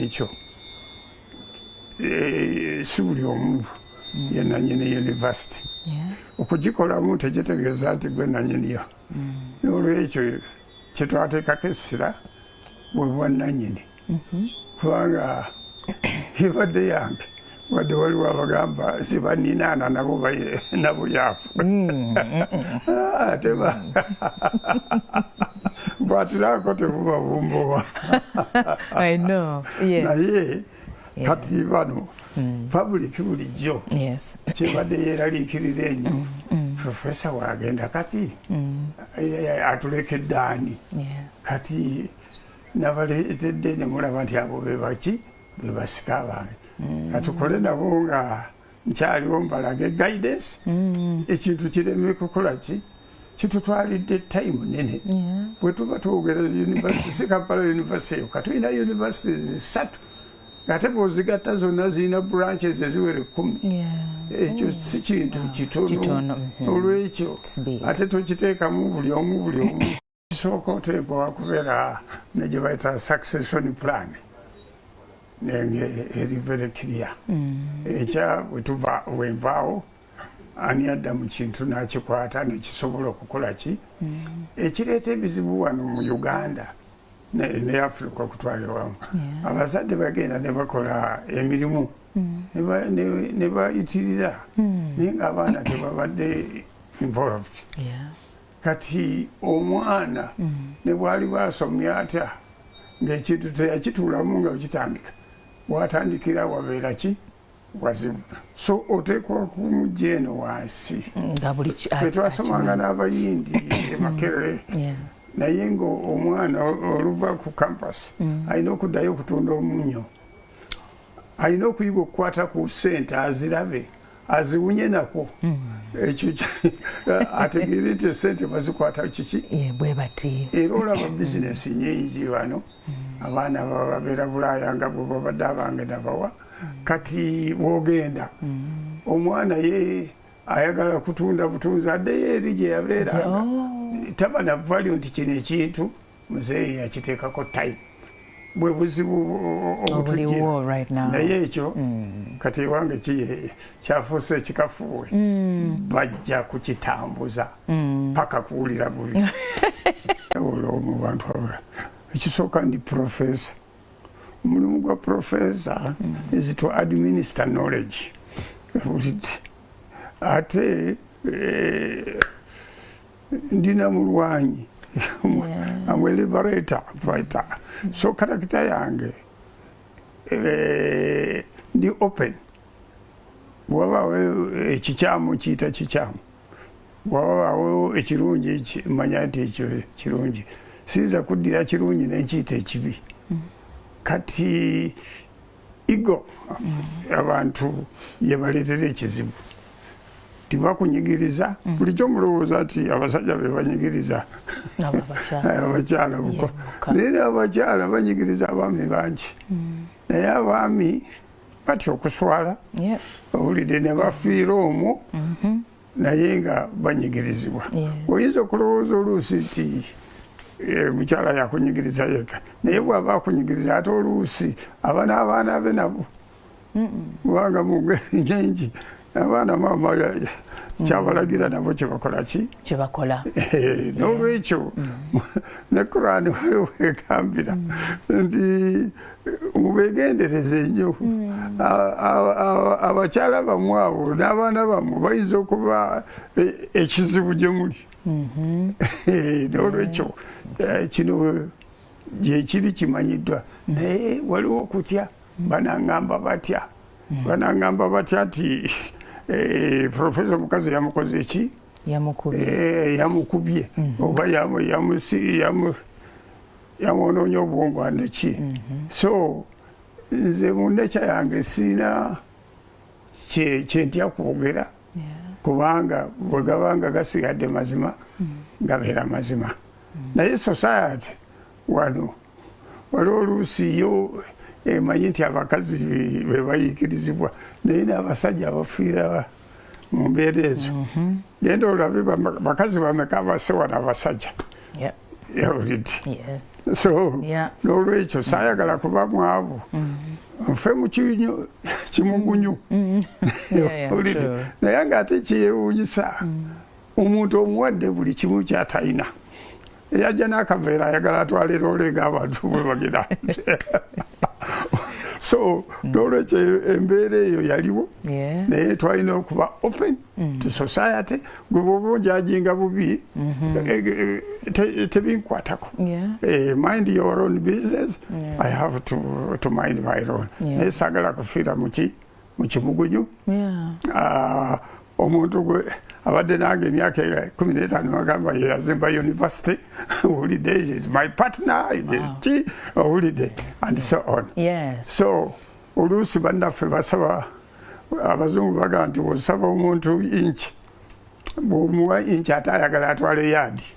ekyo eh, si buli omu yenanyini university okugikolamu tekitegeeza nti gwe nanyiniyo mm. nolwekyo kyetwateekako essira bwebwananyini mm-hmm. kubanga ebadde yange wadde waliwo abagamba nti baninaana nabo nabuyaafu mm, mm, mm. ah, ate bwatirako tebubabumbuwa naye kati bano pabuliki bulijjo kyebadde yeeraliikiriza enyo profesa wagenda kati eh, atulekedde ani kati nabaleetedde nemulaba nti abo bebaki bebasika abange mm. katukole nabo nga nkyaliwo mbalage guidance mm. ekintu kireme kukola ki kitutwalidde time nene bwetuba twogera university sikampala university eyo katulina university zisatu ngate bwozigatta zonna zirina branches eziwere kumi ekyo si kintu kitono mm-hmm. olwekyo ate tokiteekamu buli omu buli omu kisooka oteekwa wakubeera ne gye bayita succession plan nenge eri very clear mm. ekya wetuva wenvaawo ani adda mu kintu n'akikwata nekisobola okukola ki mm. ekireeta ebizibu wano mu uganda ne africa okutwala ewamu abazadde bagenda ne bakola emirimu mm. ne bayitirira naye ng'abaana tebabadde involved kati omwana mm. ne bwali bwasomye atya ng'ekintu teyakituulamu nga okitandika watandikira wabeera ki wazibu so oteekwa kumujja eno wansi etwasomanga n'abayindi emakerere mm. naye ng'omwana oluva ku kampasi mm. alina okuddayo okutunda omunyo alina okuyiga okukwata ku sente azirabe aziwunye nako hmm. ekyo ategeere nti esente bazikwata kiki bwebati era olaba hmm. bizinesi nyingi bano hmm. abaana bababeera bulaaya nga bwebabadde abange nabawa kati bwogenda omwana ye ayagala kutunda butunzi addeyo eri gyeyabeera oh. taba navalyo nti kino ekintu muzeeyi yakiteekako time bwe buzibu obutujira naye ekyo mm. kati ewange kyafuuse ekikafuwe mm. bajja kukitambuza mm. paka kuwulira bubi olwo mu bantu abula ekisooka ndi profesa omulimu gwa profesa is to administer knowledge ate eh, ndina mulwanyi amwe liberator fighter so karakita yange eh, ndi open wabawo ekikyamu eh, kiyita kikyamu wabawo ekirungi manya nti ekyo kirungi siyinza kuddira kirungi nenkiyita ekibi mm. kati igo abantu yebaletera ekizibu tibakunyigiriza mm. bulijjo mulowooza nti abasajja bebanyigiriza abakyala buko naye abakyala banyigiriza abaami bangi mm. naye abaami batya okuswala owulidde nebafiira omwo mm-hmm. naye nga banyigirizibwa oyinza okulowooza oluusi nti eh, mukyala yakunyigiriza yeka naye bwaba akunyigiriza ate oluusi aba n'abaana be nabo kubanga mungeri nyingi abaana maama mm. kyabalagira nabo kyebakola ki kyebakola eh, n'olwekyo mm. ne kurani waliwo egambira mm. nti mubegendereze nnyo hmm. abakyala bamu abo n'abaana bamu bayinza okuba e, ekizibu gye muli mhm. eh, n'olwekyo eh, kino gyekiri kimanyiddwa hmm. naye waliwo okutya hmm. banangamba batya banangamba batya nti eh, profesa omukazi yamukoze eki yamukubye mhm. oba yamwonoonye obwongo andeki mhm. so nze mundekya yange siina kyentya kwogera kubanga bwegabanga gasigadde mazima mm. gabeera mazima mm. naye society wano waliwo oluusi yo emanyi nti abakazi bebayikirizibwa naye n'abasajja abafiira mu mbeera ezo mhm. genda olabe bakazi bameka abasewa nabasajja yawulidde so n'olwekyo saayagala kuba mwavu mhm. nfe mukinyo kimugunyu mhm. yawulidde naye nga ate kyeyewunyisa omuntu omuwadde buli kimu kyatalina eyajja n'akaveera ayagala atwalira oleega abantu bwebagira so mm. n'olwekyo embeera eyo yaliwo naye twalina okuba open mm. to society gwe bwoba onjajinga bubi mm-hmm. eh, eh, eh, tebinkwatako mind your own business i have to mind my own naye sagala kufiira muki mukimugunyu ah, omuntu gwe abadde nange emyaka ekumi n'etaano agamba yeyazimba university owulidde is my partner ki owulidde and so on so oluusi bannaffe basaba abazungu bagamba nti osaba omuntu inki bwomuwa inki ate ayagala atwale yaadi